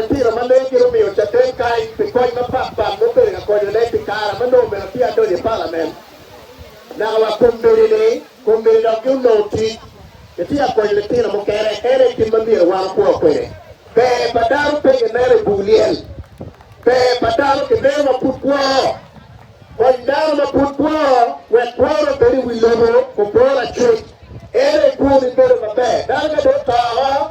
Tira ma leng gin omiyo caden kany pi kony mapat pat ma obedo ka konyone pi kare ma nongo omyero atye adonyo i palament. Naka wa kombeddi-ni, kombeddi dok gin onongo tic. Itye ka konyo litino mukene, en aye gin ma myero wan wakwo kwede. Ber pa dano pe kineno i buk lyel. Ber pa dano kineno ma pud kwo. Kony dano ma pud kwo wek kwone obed i wi lobo obor acuc. Ento i kwomi bedo maber. Dano ka dong oto woko,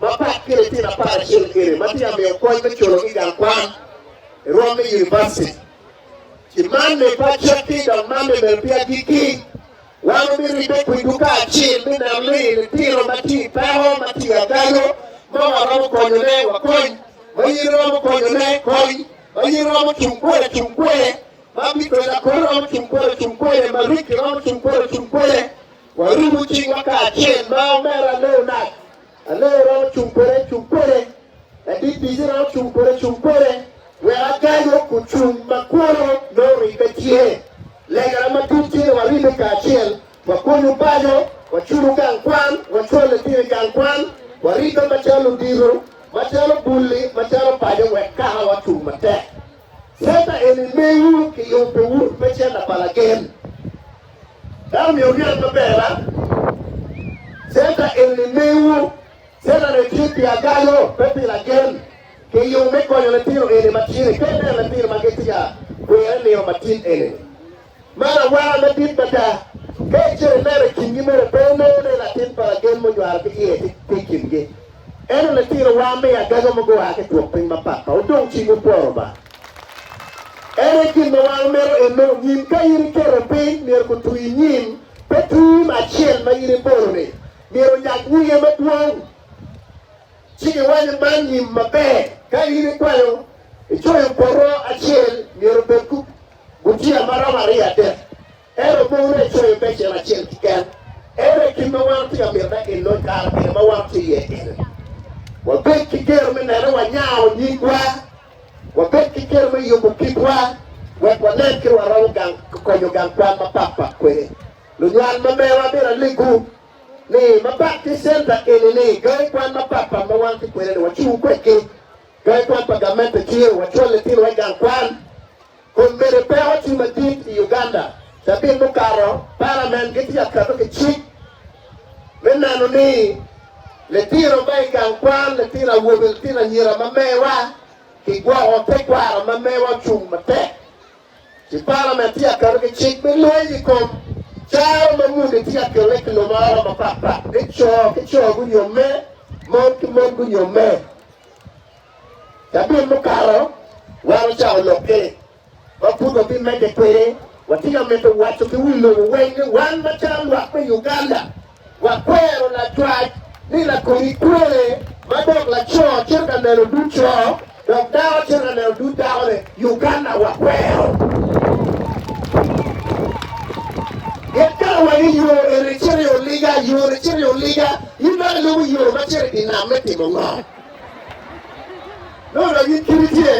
Mapat ki litino apar acel kene ma tye ka miyo kony me culo ki gang kwan i rwom me univaciti, ci man me pacekki dok man me bedo pi agikki, wan wubiribe kwi duka acil me neno ni litino ma tye i peko, ma tye agaco, ma waromo konyone wakony, ma yiri romo konyone kony, ma yiri romo cung kwede cung kwede, ma bitoco akore romo cung kwede ocung kwede, ma rikki romo cung kwede ocung kwede. Warumu cingwa kacel ma omera Leonard. Aleo romo cung pole cung pole, ladit bici romo cung pole cung pole, wek agayo ku cung ma kwono nongo ribbe tye. Legana matut tye ni waribe kacel, wakonyo bajo, waculo gang kwan, wacwalo litino i gang kwan, waribbe macalo ludito, macalo bulli, macalo pajo wek kakawa ocung matek. Center eni mewu ki yubo wun me center pa lagen. Dano myero onen maber a? Center eni mewu. Center ni tye pi agaco, pe pi lagen. Ki yubo me konyo litino eni matini. Pe ineno litino ma gitye ka kwere nino matin eni. Man awaka madit mada! Ka icito ineno i kingi mere, pe inongo ni latin pa lagen munywalo ki iye tye i kingi. Ento litinowa me agaga mogo gua ki i twopiny mapat ma odong cing gupworo Lubanga. En aye gin ma wan wamito enno nyim. Ka in iketo piny, myero gutwi nyim, pe tim acel ma in ibolo-ni myero onyak nyinge madwong, ci giwac ni man nyim maber. Ka in ikwanyo icoyo poto acel, myero obed Gutiya ma romo aryo adek, ento mono ne icoyo becen acel keken. Ento i kit ma wan otye ka mito ni elony kare pire ma wan otye iye eni, wabed ki geno me neno ni wanyao nyingwa, wabed ki geno me yubo kitwa, wek wanen kit ma waromo gang konyo gang kwan mapat pat kwede. Lunywal ma mewa, amyero alegwu ni ma pat ki center eni-ni, gangi kwan mapat pat ma wan ki kwede-ni wacung kwedgi. Ka i pwony pa gamente ciro wacwal litinowa i gang kwan, kun mede peko tye madit i Uganda. Cabit mukato, palament gitye ka keto ki cik me neno ni litino ma i gang kwan, litino awobe, litino anyira ma mewa kigwoko, tekwaro ma mewa ocung matek. Ci palament tye ka keto ki cik me lweny i kom caro ma muni tye ka kelle i kiluma oro mapatpat, ni co ki co gunyomme, mon ki mon gunyomme. Cabit mukato, wan ocawa lokke ma pud wabimedde kwede. Watye ka mito waco ki wi lobo weng ni wan macalo lwak me Uganda, wakwero lacwac ni lakodi kwee ma dok laco cito ka neno dud co dok dako cito ka neno dud dakone. Uganda wakwero. Gin kare wagi yo eni cito i oliga, yo ni cito i oliga. In dong ilubo yo ma cito i dye nam me timo ngo? Nongo dong in kiti tye?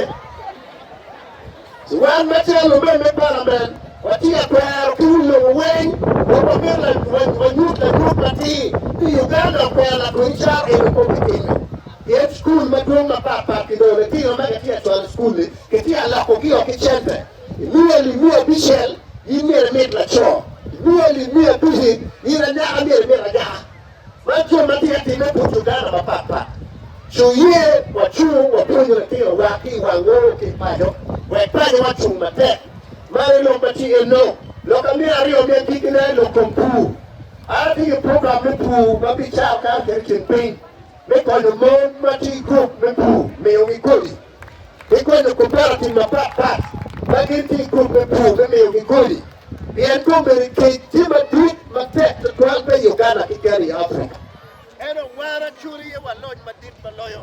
Wan macalo lubem me pala men, watye ka kwero ki wi lobo weng dok wamito wanyut lanyut matir ni Uganda okwero lakweny caro en wi kop i time. Pien cukul madwong mapatpat kidoro litino ma kitye ka cwalo i cukul-li, kitye ka lokogi o ki cente. Luelli miya abicel gin myero imit laco, luelli miya abici gin anyaka myero imit anyaka. Man jami ma tye ka timme bot Luganda mapat pat. Ci oye wacung wapwonyo litinowa ki i wang ngolo ki i paco wek pacowa cung matek. Man aye lok ma tye iye long. Lok ma myero aryo mi agikkine aye lok kom pur. An atye ki program me pur ma bicako kato cito i ceng piny me konyo mon ma tye i gurup me pur miyogi kodi. ki konyo koperativ mapat pat ma gin ki i grup me pur me miyogi kodi, pien kombeddi kec tye madit matek tutwal pe i Uganda keken i Africa. En owara cu riyewa loc madit ma loyo.